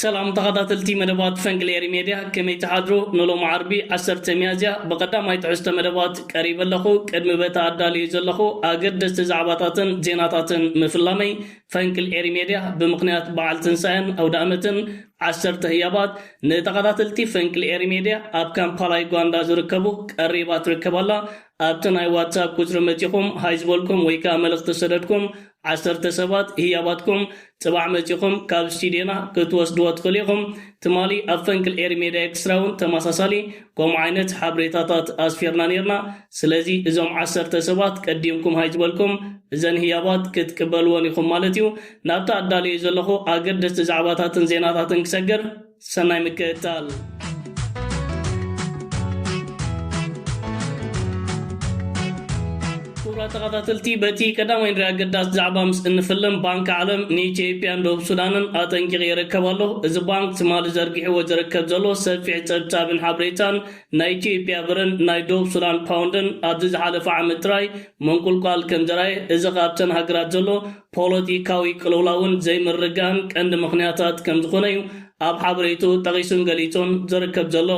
ሰላም ተኻታተልቲ መደባት ፈንቅል ኤሪ ሜድያ ከመይ ትሓድሩ ንሎሚ ዓርቢ ዓሰርተ ሚያዝያ ብቀዳማይ ትሕዝቶ መደባት ቀሪበ ኣለኹ ቅድሚ በቲ ኣዳልየዮ ዘለኹ ኣገደስቲ ዛዕባታትን ዜናታትን ምፍላመይ ፈንቅል ኤሪ ሜድያ ብምኽንያት በዓል ትንሳኤን ኣውዳእመትን ዓሰርተ ህያባት ንተኻታተልቲ ፈንቅል ኤሪ ሜድያ ኣብ ካምፓላ ዩጋንዳ ዝርከቡ ቀሪባ ትርከብ ኣላ ኣብቲ ናይ ዋትሳፕ ቁጽሪ መጺኹም ሃይ ዝበልኩም ወይ ከኣ መልእኽቲ ዝሰደድኩም ዓሰርተ ሰባት ህያባትኩም ጽባሕ መጺኹም ካብ ስቲድዮና ክትወስድዎ ትኽእሉ ኢኹም። ትማሊ ኣብ ፈንቅል ኤሪ ሜድያ ኤክስትራ ውን ተመሳሳሊ ከምኡ ዓይነት ሓብሬታታት ኣስፊርና ኔርና። ስለዚ እዞም ዓሰርተ ሰባት ቀዲምኩም ሃይ ዝበልኩም እዘን ህያባት ክትቅበልወን ኢኹም ማለት እዩ። ናብቲ ኣዳልየዮ ዘለኹ ኣገደስቲ ዛዕባታትን ዜናታትን ክሰግር። ሰናይ ምክእታል። ክቡራት ተኸታተልቲ በቲ ቀዳማይ ንሪኣ ኣገዳሲ ዛዕባ ምስ እንፍልም ባንኪ ዓለም ንኢትዮጵያን ደቡብ ሱዳንን ኣጠንቂቕ ይርከብ ኣሎ እዚ ባንክ ትማሊ ዘርጊሕዎ ዝርከብ ዘሎ ሰፊሕ ጸብጻብን ሓበሬታን ናይ ኢትዮጵያ ብርን ናይ ደቡብ ሱዳን ፓውንድን ኣብዚ ዝሓለፈ ዓመት ጥራይ መንቁልቋል ከም ዘራየ እዚ ካብተን ሃገራት ዘሎ ፖለቲካዊ ቅልውላውን ዘይምርግጋእን ቀንዲ ምኽንያታት ከምዝኾነ'ዩ ኣብ ሓበሬትኡ ጠቒሱን ገሊጹን ዝርከብ ዘሎ።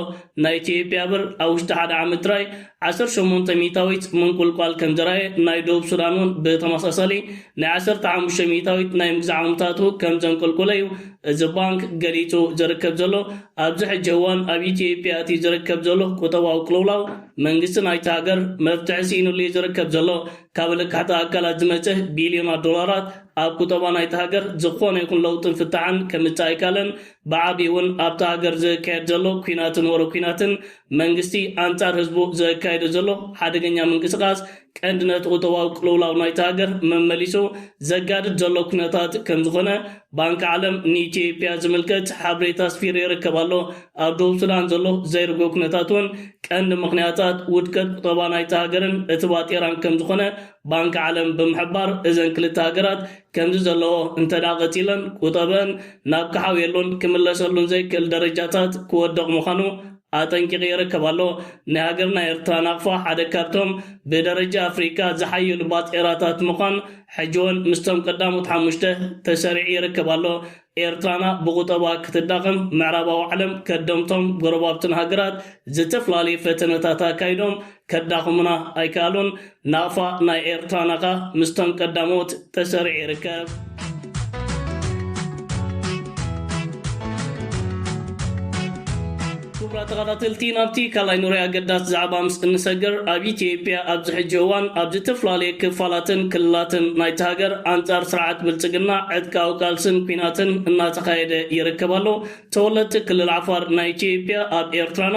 ናይ ኢትዮጵያ ብር ኣብ ውሽጢ ሓደ ዓመት ጥራይ ዓሰርተ ሸሞንተ ሚእታዊት ምንቁልቋል ከምዘርኣየ፣ ናይ ደቡብ ሱዳን እውን ብተመሳሳሊ ናይ ዓሰርተ ሓሙሽተ ሚእታዊት ናይ ምግዛእ ዓቕምታቱ ከምዘንቆልቆለ'ዩ እዚ ባንክ ገሊጹ ዝርከብ ዘሎ። ኣብዚ ሕጂ እዋን ኣብ ኢትዮጵያ እቲ ዝርከብ ዘሎ ቁጠባዊ ቅልውላው መንግስቲ ናይታ ሃገር መፍትሒ ስኢንሉ'ዩ ዝርከብ ዘሎ። ካብ ለካሕቲ ኣካላት ዝመጸ ቢልዮናት ዶላራት ኣብ ቁጠባ ናይታ ሃገር ዝኾነ ይኹን ለውጥን ፍታሕን ከምጽእ ኣይካለን፣ ብዓቢኡ እውን ኣብታ ሃገር ዝካየድ ዘሎ ኲናትን ወረ ኲናትን መንግስቲ ኣንጻር ህዝቡ ዘካይዶ ዘሎ ሓደገኛ ምንቅስቓስ ቀንዲ ነቲ ቁጠባዊ ቅልውላው ናይታ ሃገር መመሊሱ ዘጋድድ ዘሎ ኩነታት ከምዝኾነ ባንኪ ዓለም ንኢትዮጵያ ዝምልከት ሓብሬታ ኣስፊሩ ይርከብ ኣሎ። ኣብ ደቡብ ሱዳን ዘሎ ዘይርጉእ ኩነታት እውን ቀንዲ ምኽንያታት ውድቀት ቁጠባ ናይታ ሃገርን እቲ ባጤራን ከምዝኾነ ባንኪ ዓለም ብምሕባር እዘን ክልተ ሃገራት ከምዚ ዘለዎ እንተድኣ ቀጺለን ቁጠበኣን ናብ ክሓውየሉን ክምለሰሉን ዘይክእል ደረጃታት ክወድቕ ምዃኑ ኣጠንቂቑ ይርከብ ኣሎ። ናይ ሃገርና ኤርትራ ናቕፋ ሓደ ካብቶም ብደረጃ ኣፍሪቃ ዝሓየሉ ባጤራታት ምዃን ሕጂ ውን ምስቶም ቀዳሞት ሓሙሽተ ተሰሪዑ ይርከብ ኣሎ። ኤርትራና ብቑጠባ ክትዳኸም ምዕራባዊ ዓለም ከደምቶም ጎረባብትና ሃገራት ዝተፍላለዩ ፈተነታት ኣካይዶም ከዳኹሙና ኣይከኣሉን። ናቕፋ ናይ ኤርትራና ከኣ ምስቶም ቀዳሞት ተሰሪዑ ይርከብ። ክቡራት ተኸታተልቲ ናብቲ ካልኣይ ኑረ ኣገዳሲ ዛዕባ ምስ እንሰግር ኣብ ኢትዮጵያ ኣብዚ ሕጂ እዋን ኣብ ዝተፈላለየ ክፋላትን ክልላትን ናይቲ ሃገር ኣንጻር ስርዓት ብልጽግና ዕጥቃዊ ቃልስን ኲናትን እናተኻየደ ይርከብ ኣሎ። ተወለድቲ ክልል ዓፋር ናይ ኢትዮጵያ ኣብ ኤርትራና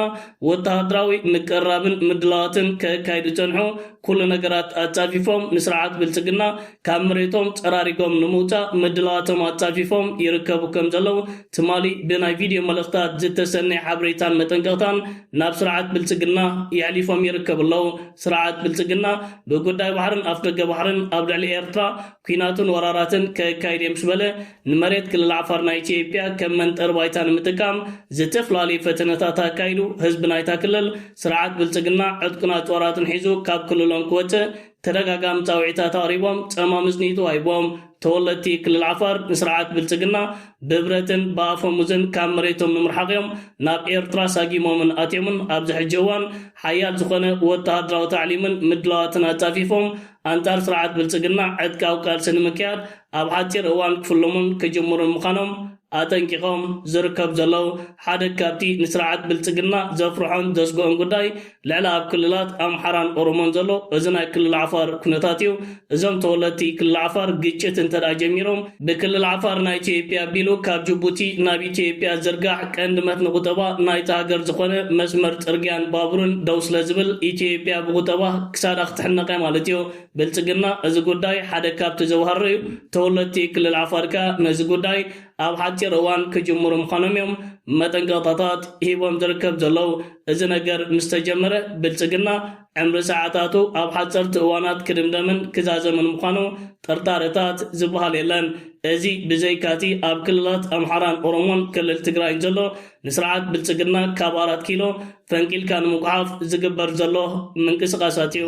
ወተሃደራዊ ምቅርራብን ምድላዋትን ከካይዱ ዝጸንሑ ኩሉ ነገራት ኣጻፊፎም ንስርዓት ብልጽግና ካብ መሬቶም ጸራሪጎም ንምውጻእ ምድላዋቶም ኣጻፊፎም ይርከቡ ከም ዘለዉ ትማሊ ብናይ ቪድዮ መልእኽታት ዝተሰነየ ሓበሬታን መጠንቀቕታን ናብ ስርዓት ብልጽግና የሕሊፎም ይርከቡ ኣለዉ። ስርዓት ብልጽግና ብጉዳይ ባሕርን ኣፍደገ ባሕርን ኣብ ልዕሊ ኤርትራ ኲናትን ወራራትን ከካይድ'የ ምስ በለ ንመሬት ክልል ዓፋር ናይ ኢትዮጵያ ከም መንጠሪ ባይታ ንምጥቃም ዝተፈላለዩ ፈተነታት ኣካይዱ ህዝቢ ናይታ ክልል ስርዓት ብልጽግና ዕጥቁን ኣጽዋራትን ሒዙ ካብ ክልሎም ክወጽእ ተደጋጋሚ ጻውዒታት ኣቕሪቦም ጸማም እዝኒ ተዋሂቡዎም ተወለድቲ ክልል ዓፋር ንስርዓት ብልጽግና ብብረትን ብኣፈሙዝን ካብ መሬቶም ንምርሓቕ'ዮም ናብ ኤርትራ ሳጊሞምን ኣትዮምን ኣብዚ ሕጂ እዋን ሓያል ዝኾነ ወተሃደራዊ ታዕሊምን ምድላዋትን ኣጻፊፎም ኣንጻር ስርዓት ብልጽግና ዕጥቃዊ ቃልሲ ንምክያድ ኣብ ሓጺር እዋን ክፍልሙን ክጅምሩን ምዃኖም ኣጠንቂቖም ዝርከቡ ዘለዉ ሓደ ካብቲ ንስርዓት ብልጽግና ዘፍርሖን ዘስግኦን ጉዳይ ልዕሊ ኣብ ክልላት ኣምሓራን ኦሮሞን ዘሎ እዚ ናይ ክልል ዓፋር ኩነታት እዩ። እዞም ተወለድቲ ክልል ዓፋር ግጭት እንተድኣ ጀሚሮም ብክልል ዓፋር ናይ ኢትዮጵያ ኣቢሉ ካብ ጅቡቲ ናብ ኢትዮጵያ ዝዝርጋሕ ቀንዲ መትኒ ቁጠባ ናይታ ሃገር ዝኾነ መስመር ጽርግያን ባቡርን ደው ስለዝብል ኢትዮጵያ ብቁጠባ ክሳዳ ክትሕነቕ እያ ማለት እዩ። ብልፅግና እዚ ጉዳይ ሓደ ካብቲ ዘውሃሮ እዩ፣ ተወለድቲ ክልል ዓፋር ከኣ ነዚ ጉዳይ ኣብ ሓፂር እዋን ክጅምሩ ምዃኖም እዮም መጠንቀቕታታት ሂቦም ዝርከብ ዘለዉ፣ እዚ ነገር ምስ ተጀመረ ብልፅግና ዕምሪ ሰዓታቱ ኣብ ሓፀርቲ እዋናት ክድምደምን ክዛዘምን ምዃኑ ጥርጣረታት ዝብሃል የለን፣ እዚ ብዘይካቲ ኣብ ክልላት ኣምሓራን ኦሮሞን ክልል ትግራይን ዘሎ ንስርዓት ብልፅግና ካብ ኣራት ኪሎ ፈንቂልካ ንምጉሓፍ ዝግበር ዘሎ ምንቅስቓሳት እዩ።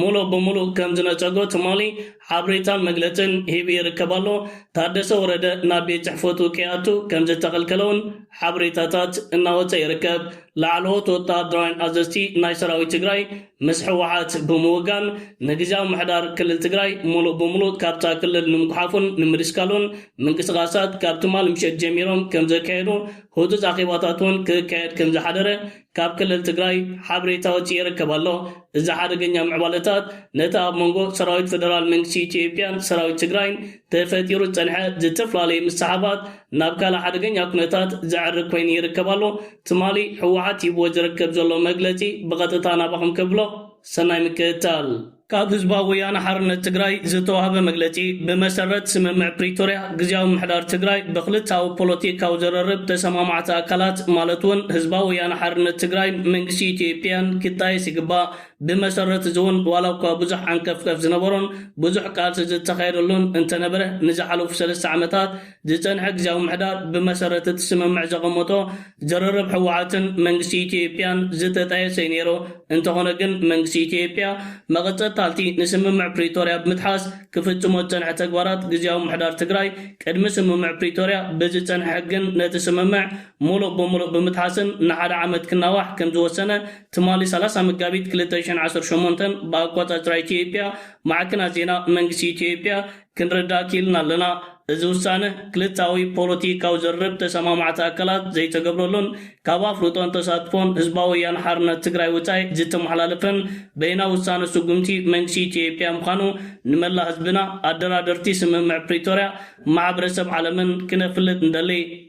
ሙሉእ ብሙሉእ ከም ዝነፀጎ ትማሊ ሓብሬታን መግለፅን ሂቡ ይርከብ ኣሎ። ታደሰ ወረደ ናብ ቤት ፅሕፈቱ ከይኣቱ ከም ዝተኸልከለ እውን ሓብሬታታት እናወፀ ይርከብ። ላዕለዎት ወተሃደራውያን ኣዘዝቲ ናይ ሰራዊት ትግራይ ምስ ህወሓት ብምውጋን ንግዝያዊ ምሕዳር ክልል ትግራይ ሙሉእ ብሙሉእ ካብታ ክልል ንምጉሓፉን ንምድስካሉን ምንቅስቓሳት ካብ ትማሊ ምሸት ጀሚሮም ከም ዘካየዱ ህፁፅ ኣኼባታት እውን ክካየድ ከም ዝሓደረ ካብ ክልል ትግራይ ሓበሬታ ወፂኡ ይርከብ ኣሎ። እዚ ሓደገኛ ምዕባለታት ነቲ ኣብ መንጎ ሰራዊት ፌደራል መንግስቲ ኢትዮጵያን ሰራዊት ትግራይን ተፈጢሩ ዝፀንሐ ዝተፈላለየ ምስሕሓባት ናብ ካልእ ሓደገኛ ኩነታት ዘዕርግ ኮይኑ ይርከብ ኣሎ። ትማሊ ህወሓት ሂብዎ ዝርከብ ዘሎ መግለፂ ብቐጥታ ናባኹም ከብሎ። ሰናይ ምክትታል። ካብ ህዝባዊ ወያነ ሓርነት ትግራይ ዝተዋህበ መግለጺ፣ ብመሰረት ስምምዕ ፕሪቶርያ፣ ግዝያዊ ምምሕዳር ትግራይ ብክልተኣዊ ፖለቲካዊ ዘረርብ ተሰማማዕቲ ኣካላት ማለት እውን ህዝባዊ ወያነ ሓርነት ትግራይን መንግስቲ ኢትዮጵያን ክጣየስ ይግባእ። ብመሰረት እዚ እውን ዋላ እኳ ብዙሕ ዓንቀፍቀፍ ዝነበሮን ብዙሕ ቃልሲ ዝተኻየደሉን እንተነበረ ንዝሓለፉ ሰለስተ ዓመታት ዝጸንሐ ግዝያዊ ምሕዳር ብመሰረት እቲ ስምምዕ ዘቐመጦ ዝርርብ ህወሓትን መንግስቲ ኢትዮጵያን ዝተጣየሰ'ዩ ነይሩ። እንተኾነ ግን መንግስቲ ኢትዮጵያ መቐጸታልቲ ንስምምዕ ፕሪቶርያ ብምጥሓስ ክፍጽሞ ዝጸንሐ ተግባራት ግዝያዊ ምሕዳር ትግራይ ቅድሚ ስምምዕ ፕሪቶርያ ብዝጸንሐ ሕግን ነቲ ስምምዕ ሙሉእ ብምሉእ ብምጥሓስን ንሓደ ዓመት ክናዋሕ ከምዝወሰነ ትማሊ ሰላሳ መጋቢት ክልተ ሽሕን ዓሰርተ ሸሞንተን ብኣቆጻጽራ ኢትዮጵያ ማዕክናት ዜና መንግስቲ ኢትዮጵያ ክንርዳእ ክኢልና ኣለና። እዚ ውሳነ ክልተኣዊ ፖለቲካዊ ዝርርብ ተሰማማዕቲ ኣካላት ዘይተገብረሉን ካብ ኣፍልጦን ተሳትፎን ህዝባዊ ወያነ ሓርነት ትግራይ ወፃኢ ዝተመሓላለፈን በይናዊ ውሳነ ስጉምቲ መንግስቲ ኢትዮጵያ ምዃኑ ንመላእ ህዝብና ኣደራደርቲ ስምምዕ ፕሪቶርያ ማሕበረሰብ ዓለምን ክነፍልጥ ንደሊ።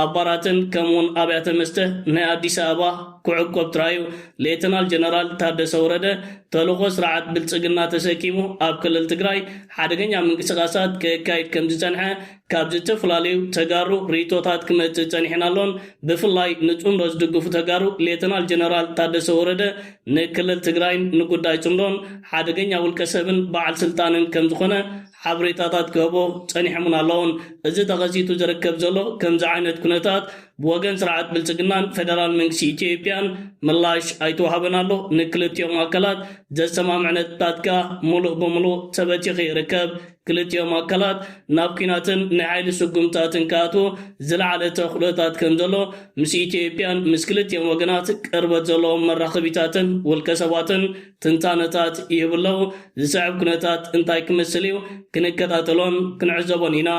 ኣብ ባራትን ከምኡውን ኣብያተ መስተ ናይ ኣዲስ ኣበባ ክዕቆብ ጥራዩ ሌተናል ጀነራል ታደሰ ወረደ ተልእኾ ስርዓት ብልፅግና ተሰኪሙ ኣብ ክልል ትግራይ ሓደገኛ ምንቅስቓሳት ከካይድ ከምዝፀንሐ ካብ ዝተፈላለዩ ተጋሩ ርኢቶታት ክመፅእ ፀኒሕን ኣሎን። ብፍላይ ንፅምዶ ዝድግፉ ተጋሩ ሌተናል ጀነራል ታደሰ ወረደ ንክልል ትግራይን ንጉዳይ ፅምዶን ሓደገኛ ውልቀሰብን በዓል ስልጣንን ከምዝኾነ ሓበሬታታት ክህቦ ጸኒሖምን ኣለዉን። እዚ ተኸሲቱ ዝርከብ ዘሎ ከምዚ ዓይነት ኩነታት ብወገን ስርዓት ብልጽግናን ፈደራል መንግስቲ ኢትዮጵያን ምላሽ ኣይተዋህበን ኣሎ። ንክልቲኦም ኣካላት ዘሰማምዕ ነጥብታት ከኣ ምሉእ ብምሉእ ተበቲኹ ይርከብ። ክልቲኦም ኣካላት ናብ ኲናትን ናይ ሓይሊ ስጉምትታትን ክኣትዉ ዝለዓለ ተኽእሎታት ከምዘሎ ምስ ኢትዮጵያን ምስ ክልቲኦም ወገናት ቅርበት ዘለዎም መራኸቢታትን ውልቀሰባትን ትንታነታት ይህቡ ኣለዉ። ዝስዕብ ኩነታት እንታይ ክመስል እዩ? ክንከታተሎን ክንዕዘቦን ኢና።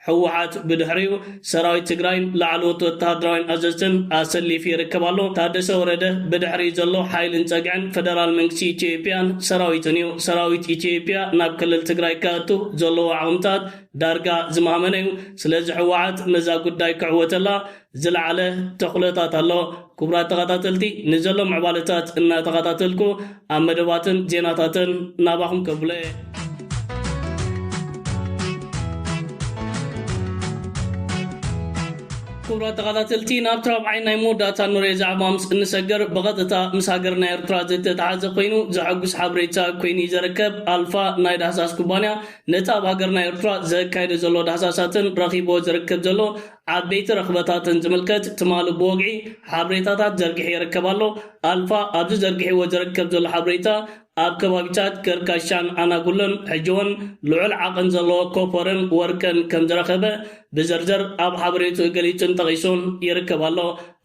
ህወሓት ብድሕሪኡ ሰራዊት ትግራይን ላዕለዎት ወተሃደራውያን ኣዘዝትን ኣሰሊፉ ይርከብ ኣሎ። ታደሰ ወረደ ብድሕሪኡ ዘሎ ሓይልን ፀግዕን ፈደራል መንግስቲ ኢትዮጵያን ሰራዊቱን እዩ። ሰራዊት ኢትዮጵያ ናብ ክልል ትግራይ ከእቱ ዘለዎ ዓቕምታት ዳርጋ ዝማህመነ እዩ። ስለዚ ህወሓት ነዛ ጉዳይ ክዕወተላ ዝለዓለ ተኽእሎታት ኣሎ። ክቡራት ተኸታተልቲ ንዘሎ ምዕባለታት እናተኸታተልኩ ኣብ መደባትን ዜናታትን ናባኹም ከብሎ እየ። ክቡራት ተኸታተልቲ ናብቲ ራብዓይ ናይ መወዳእታ ንሪኦ ዛዕባ ምስ እንሰገር ብቐጥታ ምስ ሃገርና ኤርትራ ዝተተሓዘ ኮይኑ ዘሐጉስ ሓበሬታ ኮይኑ እዩ ዘርከብ። ኣልፋ ናይ ዳህሳስ ኩባንያ ነቲ ኣብ ሃገርና ኤርትራ ዘካይዶ ዘሎ ዳህሳሳትን ረኺብዎ ዝርክብ ዘሎ ዓበይቲ ረኽበታት እንትምልከት ትማሊ ብወግዒ ሓብሬታታት ዘርጊሑ ይርከብ ኣሎ። ኣልፋ ኣብዚ ዘርጊሕዎ ዝርከብ ዘሎ ሓብሬታ ኣብ ከባቢታት ገርካሻን ኣናጉሎን ሕጂ'ውን ልዑል ዓቕን ዘለዎ ኮፐርን ወርቅን ከምዝረኸበ ብዝርዝር ኣብ ሓበሬትኡ ገሊጹን ጠቒሱን ይርከብ ኣሎ።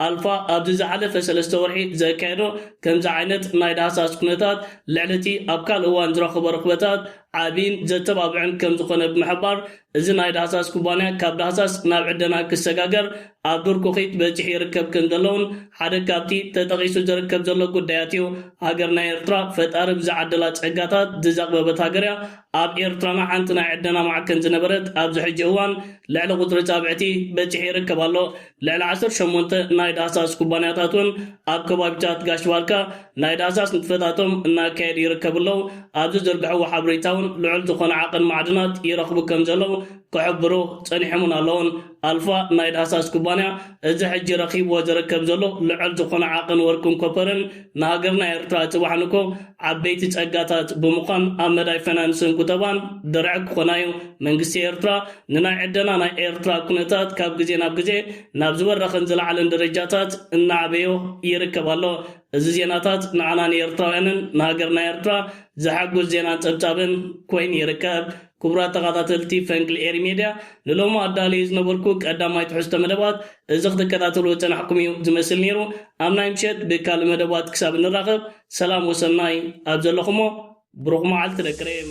ኣልፋ ኣብዚ ዝሓለፈ ሰለስተ ወርሒ ዘካየዶ ከምዚ ዓይነት ናይ ዳህሳስ ኩነታት ልዕሊ እቲ ኣብ ካልእ እዋን ዝረኸቦ ርኽበታት ዓቢን ዘተባብዕን ከም ዝኾነ ብምሕባር፣ እዚ ናይ ዳህሳስ ኩባንያ ካብ ዳህሳስ ናብ ዕደና ክሰጋገር ኣብ ዱር ኩኺት በጺሑ ይርከብ ከም ዘሎ'ውን ሓደ ካብቲ ተጠቒሱ ዝርከብ ዘሎ ጉዳያት እዩ። ሃገርና ኤርትራ ፈጣሪ ብዝዓደላ ጸጋታት ዝዘቕበበት ሃገር እያ። ኣብ ኤርትራና ሓንቲ ናይ ዕደና ማዕከን ዝነበረት ኣብዚ ሕጂ እዋን ልዕሊ ቁጽሪ ጻብዕቲ በጺሑ ይርከብ ኣሎ። ልዕሊ ዓሰርተ ሸሞንተ ናይ ዳህሳስ ኩባንያታት እውን ኣብ ከባቢታት ጋሽ ባርካ ናይ ዳህሳስ ንጥፈታቶም እናካየዱ ይርከቡ ኣለው። ኣብ ዝዝርግሕዎ ሓብሬታ እውን ልዑል ዝኾነ ዓቕን ማዕድናት ይረኽቡ ከምዘለው ክሕብሩ ፀኒሖምን ኣለውን። ኣልፋ ናይ ዳህሳስ ኩባንያ እዚ ሕጂ ረኺብዎ ዝርከብ ዘሎ ልዑል ዝኾነ ዓቕን ወርቅን ኮፐርን ንሃገርና ኤርትራ ፅባሕ ንግሆ ዓበይቲ ጸጋታት ብምዃን ኣብ መዳይ ፈናንስን ቁጠባን ድርዒ ክኾና'ዩ። መንግስቲ ኤርትራ ንናይ ዕደና ናይ ኤርትራ ኩነታት ካብ ግዜ ናብ ግዜ ናብ ዝበረኸን ዝለዓለን ደረጃታት እናዕበዮ ይርከብ ኣሎ። እዚ ዜናታት ንዓና ንኤርትራውያንን ንሃገርና ኤርትራ ዘሐጉስ ዜናን ጸብጻብን ኮይኑ ይርከብ። ክቡራት ተኻታተልቲ ፈንቅል ኤሪ ሜድያ ንሎሚ ኣዳልየዮ ዝነበርኩ ቀዳማይ ትሕዝቶ መደባት እዚ ክትከታተልዎ ዝጸናሕኩም እዩ ዝመስል ኔሩ ኣብ ናይ ምሸት ብካልእ መደባት ክሳብ እንራኸብ ሰላም ወሰናይ ኣብ ዘለኹሞ ብሩኽ መዓልቲ ደቂ ሬም።